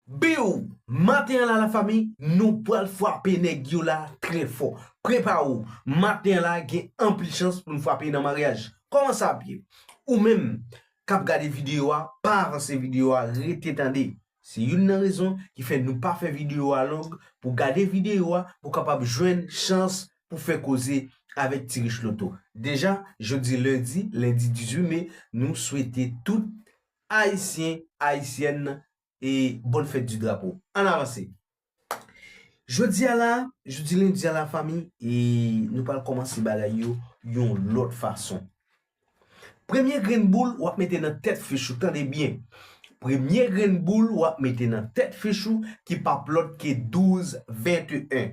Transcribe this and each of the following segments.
Biww! Maten an la la fami nou pwal fwape nèg yo la trè fò. Prepare w, maten an la gen anpil chans pou nou fwape nan maryaj. Kòman sa ap ye? Ou menm kap gade videyo a pa avanse videyo a rete tande. Se youn nan rezon ki fè nou pa fè videyo a long pou gade videyo a pou kapab jwenn chans pou fè koze avèk Ti Rich Loto. Deja jodi lendi, lendi 18 me nou swete tout Ayisyen, Ayisyèn e Bonne Fête du Drapeau. Ann avanse! Jodi a la, jodi lendi a la fanmi, e nou pral kòmanse bagay yo yon lòt fason. Premye grenn boul w ap mete nan tèt fich ou, tande byen, premye grenn boul w ap mete nan tèt fich ou ki p ap lòt ke 12, 21.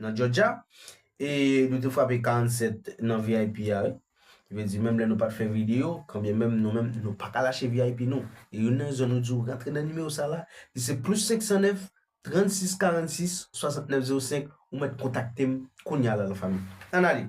nan Georgia e nou te frape 47 nan vip a wi ki vle di menm lè nou pat fè video kanbyen menm nou menm nou pa ka lache vip nou e youn nan rezon nou di ou rantre nan nimewo sa la li se plus 509 36 46 69 05 ou mèt kontakte m kounya la la fanmi ann ale.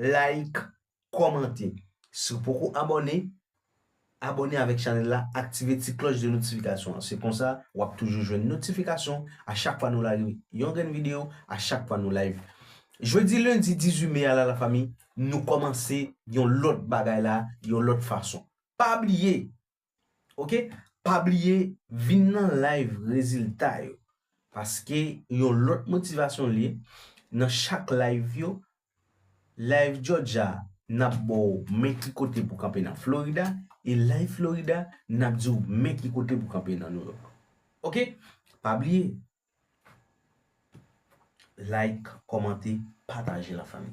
Like, kòmante. Si w poko abòne, abòne avèk chanèl la, aktive ti klòch de notifikasyon an. Se konsa, w ap toujou jwenn notifikasyon a chak fwa nou lage yon grenn videyo, a chak fwa nou live. Jodi lendi 18 me a la lafanmi, nou kòmanse yon lòt bagay la, yon lòt fason. Pa bliye! ok pa bliye vin nan live rezilta yo paske yon lòt motivasyon liye nan chak live yo live jòja nap baw men ki kote pou kanpe nan florida e live florida nap diw men ki kote pou kanpe nan new york ok pa bliye like kòmante pataje la fanmi.